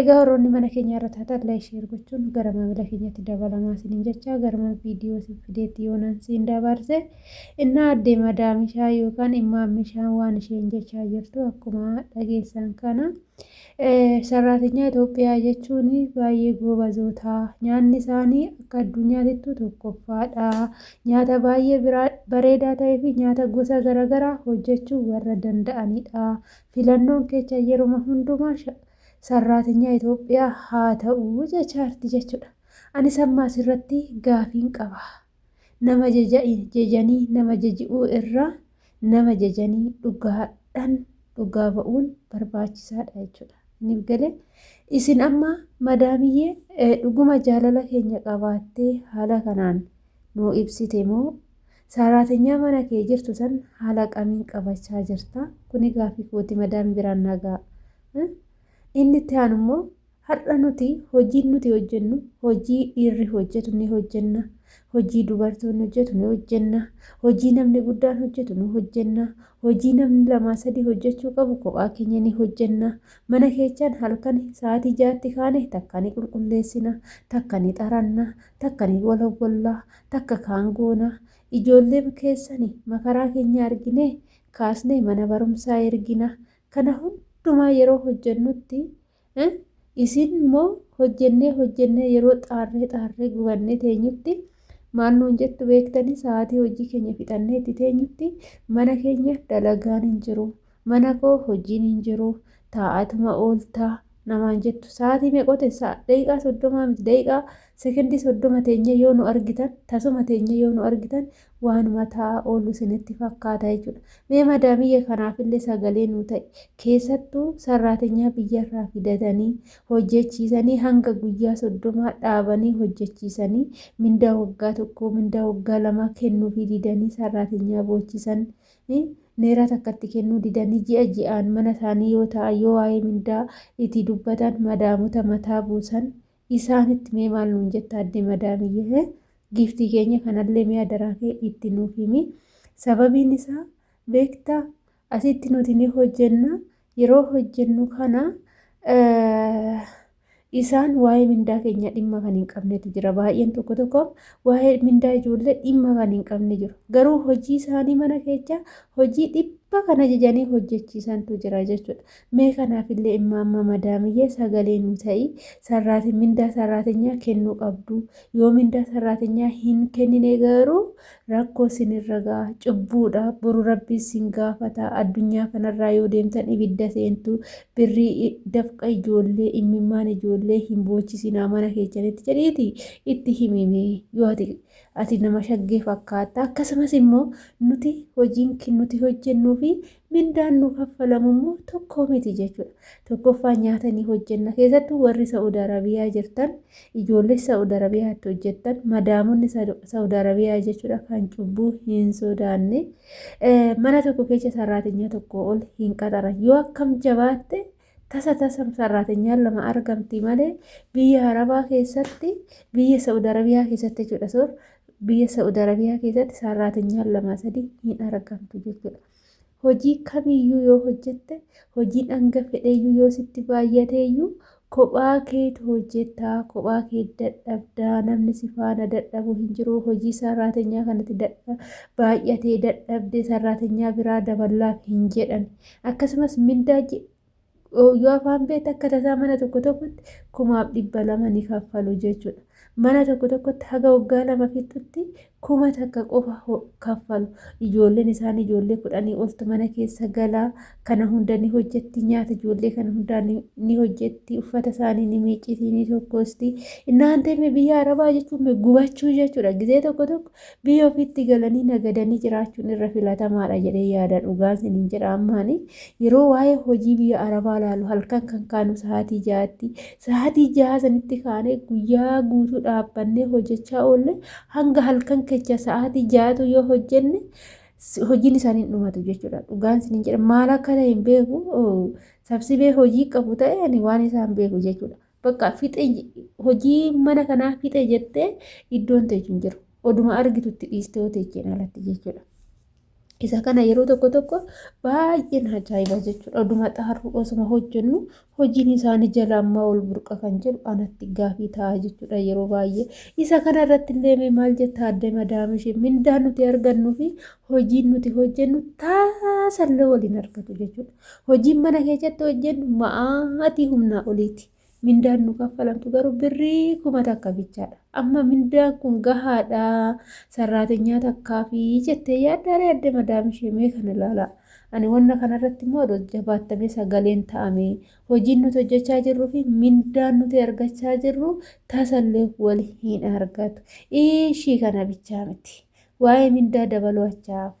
Egaa warroonni mana keenyaa irra taatan like share gochuun gara maamila keenyatti dabalamaa isiniin jechaa garuma viidiyoo isin fideetti yoonaan siin dabaarse innaa addee madaamishaa yookaan immaa mishaan waan isheen jechaa jirtu akkuma dhageessan kana sarraatinyaa Itoophiyaa jechuun baay'ee goobazoota nyaanni isaanii akka addunyaatittu tokkoffaadha nyaata baay'ee bareedaa ta'ee fi nyaata gosa garaagaraa hojjechuu warra danda'anidha filannoon kecha yeruma hundumaa sarraatenyaa Itoophiyaa haa ta'u jechaarti jechudha. Anis amma asirratti gaafiin qaba. Nama jejanii nama jeji'uu irra nama jejanii dhugaadhan dhugaa ba'uun barbaachisaadha jechudha. Inni galee isin amma madaamiyyee dhuguma jaalala keenya qabaattee haala kanaan nuu ibsite moo Saaraatenyaa mana kee jirtu san haala qamiin qabachaa jirta. Kuni gaafii kooti madaami biraan naa ga'a. Inni itti aanu immoo har'a nuti hojiin nuti hojjennu hojii dhiirri hojjetu ni hojjenna. Hojii dubartoonni hojjetu ni hojjenna. Hojii namni guddaan hojjetu ni hojjenna. Hojii namni lamaa sadii hojjechuu qabu kophaa keenya ni hojjenna. Mana keechaan halkan sa'aatii jaatti kaane takka ni qulqulleessina, takka ni xaranna, takka ni walawwalla takka kaan goona ijoolleema keessani makaraa keenya arginee kaasnee mana barumsaa ergina kana hundumaa yeroo hojjennutti isin immoo hojjennee hojjennee yeroo xaarree xaarree gubannee teenyutti maal nuun jettu beektanii sa'aatii hojii keenya fixannee itti teenyutti mana keenya dalagaan hin jiru Mana koo hojiin hin jiru, taa'aatuma oolta namaan jettu. Sa'aatii meeqote sa'a daqiiqaa soddomaa miti daqiiqaa sekendii soddoma teenyee yoo nu argitan tasuma teenyee yoo nu argitan waanuma taa'aa oolu isinitti fakkaata jechuudha. Mee madaamiyye kanaafillee sagalee nu ta'i. Keessattuu sarraatenyaa biyyarraa fidatanii hojjechiisanii hanga guyyaa soddomaa dhaabanii hojjechiisanii mindaa waggaa tokkoo mindaa waggaa lamaa kennuufii didanii sarraatenyaa boochisan neeraa takkatti kennuu didanii ji'a ji'aan mana isaanii yoo ta'an yoo waa'ee mindaa itti dubbatan madaamota mataa buusan isaanitti mee maal nuun jetta adde madaamiyyee giiftii keenya kanallee mee adaraa kee itti nuuf himi sababiin isaa beektaa asitti nuti ni hojjenna yeroo hojjennu kana isaan waa'ee mindaa keenya dhimma kan hin qabnetu jira. Baay'een tokko tokko waa'ee mindaa ijoollee dhimma kan hin qabne jiru. Garuu hojii isaanii mana keessa hojii dhibba kan ajajanii hojjechiisantu jira jechuudha. Mee kanaaf illee immoo amma madaamiyyee sagalee nu ta'ii sarraati mindaa sarraatinyaa kennuu qabdu. Yoo mindaa sarraatinyaa hin kennine garuu rakkoo sinirra ga'a cubbuudha boru rabbii sin gaafata addunyaa kanarraa yoo deemtan ibidda seentu birrii i- dafqa ijoollee immimmaan ijoollee hin boochisinaa mana keessanitti jedhiiti itti himime yoo ati ati nama shaggee fakkaatta akkasumas immoo nuti hojiin kin- nuti hojjennuu fi mindaan nu kaffalamu immoo tokko miti jechuudha. Tokkoffaa nyaata ni hojjenna. Keessattuu warri Sa'ud Arabiyaa jirtan ijoollee Sa'ud Arabiyaatti hojjettan madaamonni Sa'ud Arabiyaa jechuudha kan cubbuu hin sodaanne mana tokko keessa sarraatinyaa tokko ol hin qaxaran yoo akkam jabaatte tasa tasa sarraatinyaan lama argamti malee biyya Arabaa keessatti biyya Sa'ud Arabiyaa keessatti jechuudha soor biyya Sa'ud Arabiyaa keessatti sarraatinyaan lama sadii hin argamtu jechuudha. Hojii kamiyyuu yoo hojjette, hojiin hanga fedheyyuu yoo sitti baay'ateyyuu, kophaa keetu hojjetta, kophaa kee dadhabda, namni si faana dadhabu hin jiru, hojii sarraatenyaa kanatti dadha- baay'atee dadhabde sarraatenyaa biraa daballaaf hin jedhan. Akkasumas mindaa ji- yoo afaan beekte akka tasaa mana tokko tokkotti kumaaf dhibba lama ni kaffalu jechuudha. Mana tokko tokkotti haga waggaa lama fixxutti kuma takka qofa kaffalu. Ijoolleen isaan ijoollee kudhanii oltu mana keessa galaa kana hunda ni hojjetti nyaata ijoollee kana hundaa ni hojjetti uffata isaanii ni miicciti ni tokkosti. Innaan deeme biyya arabaa jechuun gubachuu jechuudha. Gizee tokko tokko Biyya ofiitti galanii nagadanii jiraachuun irra filatamaadha jedhee yaada dhugaan siniin jedha ammaani yeroo waa'ee hojii biyya arabaa laalu halkan kan kaanu sa'aatii ja'aatti sa'aatii ja'a sanitti kaanee guyyaa guutuu dhaabbannee hojjechaa oolle hanga halkan kecha sa'aatii ja'atu yoo hojjenne hojiin isaanii hin dhumatu jechuudha dhugaan siniin jedha maal akka ta'e hin beeku sabsibee hojii qabu ta'e ani waan isaan beeku jechuudha. Bakka fixe hojii mana kanaa fixe jettee iddoon teechu hin jiru. Oduma argitutti dhiistee yoo teecheen alatti jechuudha. Isa kana yeroo tokko tokko baay'een ajaa'iba jechuudha. Oduma xaarru osuma hojjennu hojiin isaanii jala ammaa ol burqa kan jedhu anatti gaafii ta'a jechuudha yeroo baay'ee. Isa kana irratti illee maal jetta adde madaamishi mindaa nuti argannuu fi hojiin nuti hojjennu taasallee waliin argatu jechuudha. Hojiin mana keessatti hojjennu ma'aatii humnaa oliiti. Mindaan nu kaffalamtu garuu birrii kuma takka bichaadha. Amma mindaan kun gahaadha. Sarraatenyaa takkaa fi jettee yaaddaaree adda madaam ishee mee kana ilaalaa. Ani wanna kanarratti immoo adoo jabaattamee sagaleen ta'ame. Hojiin nuti hojjechaa jirruu fi mindaan nuti argachaa jirru tasallee wal hin argatu. Ishii kana bichaa miti. Waa'ee mindaa dabaluu achaafu.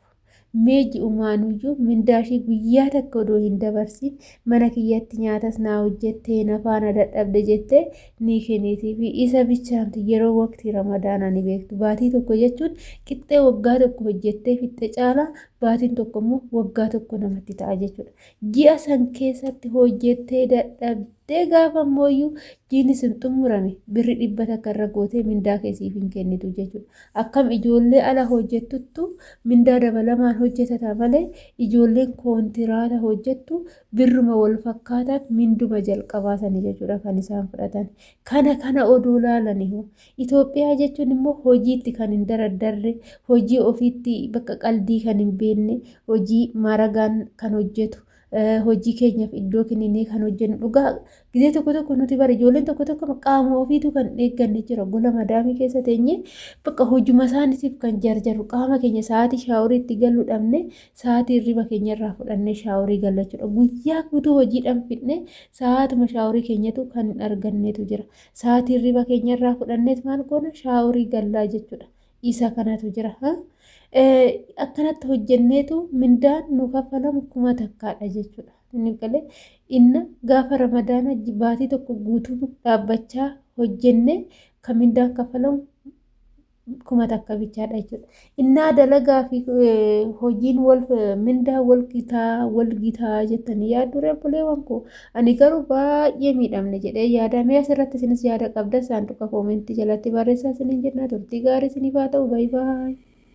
Mee ji'umaanuyyuu mindaashii guyyaa takka odoo hin dabarsiin mana kiyyatti nyaatas naa hojjettee na faana dadhabde jettee ni kennitii fi isa bichaamti yeroo waqtii ramadaanaa ni beektu. Baatii tokko jechuun qixxee waggaa tokko hojjettee fixxe caalaa baatiin tokko immoo waggaa tokko namatti ta'a jechuudha. Ji'a san keessatti hojjettee dadhabdee gaafa mooyyuu jiini sun xumurame birri dhibba takka irra gootee mindaa kee siif hin kennitu jechuudha. Akkam ijoollee ala hojjettuttu mindaa dabalamaan hojjetata malee ijoolleen koontiraata hojjettu birruma wal fakkaataan minduma jalqabaa sani jechuudha kan isaan fudhatan. Kana kana odoo laalanihu Itoophiyaa jechuun immoo hojiitti kan hin daraddarre, hojii ofiitti bakka qaldii kan hin beekne, hojii maaragaan kan hojjetu, hojii keenyaaf iddoo kenninee kan hojjennu dhugaa gizee tokko tokko nuti bara ijoolleen tokko tokko qaama ofiitu kan eegganne jira gola madaamii keessa teenye bakka hojuma isaaniitiif kan jarjaru qaama keenya sa'aatii shaaworii itti galuu dhabne sa'aatii hirriba keenya irraa fudhannee shaaworii galachuudha guyyaa guutuu hojiidhaan fidne sa'aatuma shaaworii keenyatu kan hin argannetu jira Sa'aatii hirriba keenya irraa fudhanneet maal goona shaaworii gallaa jechuudha. Isa kanatu jira. Akkanatti hojjenneetu mindaan nu kaffalamu kuma takkaadha jechuudha. Inni galee inna gaafa ramadaana baatii tokko guutuu dhaabbachaa hojjennee kan mindaan kaffalamu kuma takka bichaadha jechuudha. Innaa dalagaa fi hojiin wal mindaa wal gitaa wal gitaa jettanii yaaddu reebbuleewwan koo. Ani garuu baay'ee miidhamne jedhee yaada mee asirratti isinis yaada qabda saanduqa koomentii jalatti barreessaa isiniin jennaa turtii gaarii isiniif haa ta'u baay'ee.